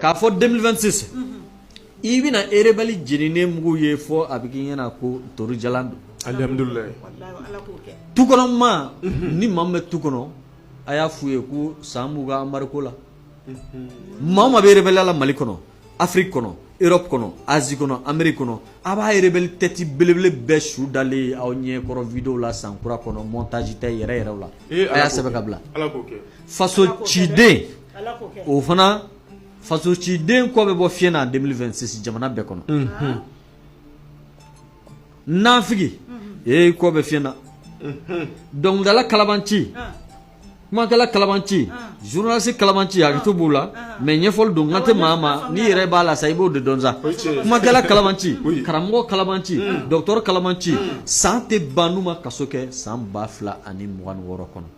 k'a fɔ 2026 i bɛna rebelle jeninen mugu ye fɔ a bɛ k'i ɲɛna ko ntorijalan don alihamudulilayi tukɔnɔmaa ni maa min bɛ tu kɔnɔ a y'a f'u ye ko san b'u ka mariko la maa o maa bɛ rebelle la mali kɔnɔ afiriki kɔnɔ Europe kɔnɔ Asie kɔnɔ Amérique kɔnɔ a b'a rebelle tête belebele bɛɛ su dalen ye aw ɲɛ kɔrɔ vidéo la san kura kɔnɔ montage tɛ yɛrɛ yɛrɛw la a y'a sɛbɛn ka bila faso ciden o fana fasociden kɔ bɛ bɔ fiɲɛ na 2026 jamana bɛɛ kɔnɔ nafigi kɔ bɛ fiɲɛ na dɔnkilidala kalabanci kumakɛla kalabanci zurunalisi kalabanci hakɛto b'o la mɛ ɲɛfɔli don n kan tɛ maa ma n'i yɛrɛ b'a la sa i b'o de dɔn sa kumakɛla kalabanci karamɔgɔ kalabanci dɔgɔtɔrɔ kalabanci san tɛ ban n'u ma kaso kɛ san ba fila ani mugan ni wɔɔrɔ kɔnɔ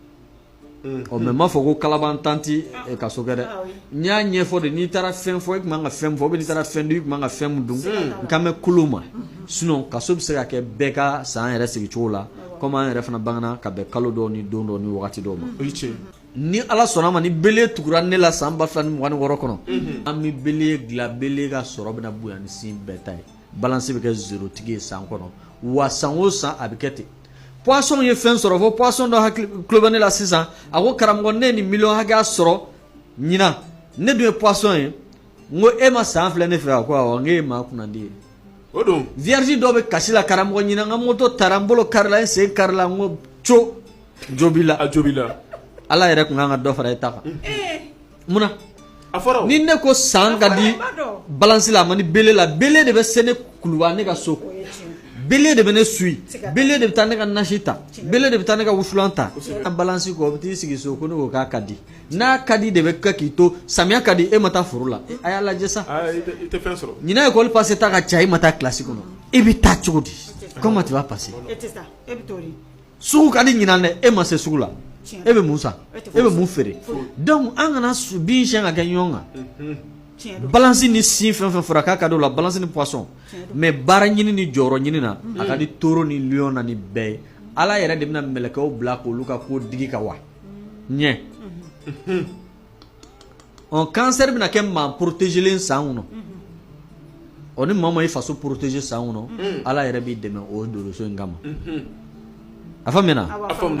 ɔ mɛ m'a fɔ ko kalabantan tɛ kaso kɛ dɛ n y'a ɲɛfɔ de n'i taara fɛn fɔ i tun man ka fɛn fɔ ou bien n'i taara fɛn dun i tun man ka fɛn min dun n kan bɛ k'olu ma sinɔn kaso bɛ se ka kɛ bɛɛ kan san yɛrɛ sigi cogo la komi an yɛrɛ fana bangana ka bɛn kalo dɔw ni don dɔw ni wagati dɔw ma ni ala sɔnna ma ni bele tugura ne la san ba fila ni mugan ni wɔɔrɔ kɔnɔ an bɛ bele dilan bele ka sɔrɔ bɛna bonya ni signe bɛɛ ta ye balance bɛ kɛ zero tigi ye san kɔnɔ wa san o san a bɛ kɛ ten poisson ye fɛn sɔrɔ fo poisson dɔ hakili tulo bɛ ne la sisan a ko karamɔgɔ ne ye nin miliyɔn hakɛya sɔrɔ ɲinan ne dun ye poisson ye n ko e ma san filɛ ne fɛ a ko awɔ n k'e ye maa kunnandi ye o don vierge dɔ bɛ kasi la karamɔgɔ ɲinan n ka moto taara n bolo karila n sen karila n ko co jo b'i la a jo b'i la ala yɛrɛ tun kan ka dɔ fara e ta kan munna a fɔra ni ne ko san ka di balansi la a man di bele la bele de bɛ se ne kuluba ne ka so bele de bɛ ne su bele de bɛ taa ne ka nasi ta bele de bɛ taa ne ka wusulan ta a balansi kɔ bɛ t'i sigi so ko ne ko k'a ka di n'a ka di de bɛ kɛ k'i to samiya ka di e ma taa foro la a y'a lajɛ sa i tɛ fɛn sɔrɔ ɲinan ekɔli pase ta ka ca e ma taa kilasi kɔnɔ e bɛ taa cogo di comment tu vas passer sugu ka di ɲinan dɛ e ma se sugu la e bɛ mun san e bɛ mun feere donc an kana su bin siyɛn ka kɛ ɲɔgɔn kan balansi ni signe fɛn fɛn fɔra k'a ka di o la balansi ni poisson mais baara ɲini ni jɔyɔrɔ ɲini na a ka di toro ni lion na ni bɛɛ ye ala yɛrɛ de bɛna mɛlɛkɛw bila k'olu ka ko digi ka wa ɲɛ ɔ kansɛri bɛna kɛ maa porotezelen san kɔnɔ ɔ ni maa ma i faso poroteze san kɔnɔ ala yɛrɛ b'i dɛmɛ o doloso in kama a faamuyana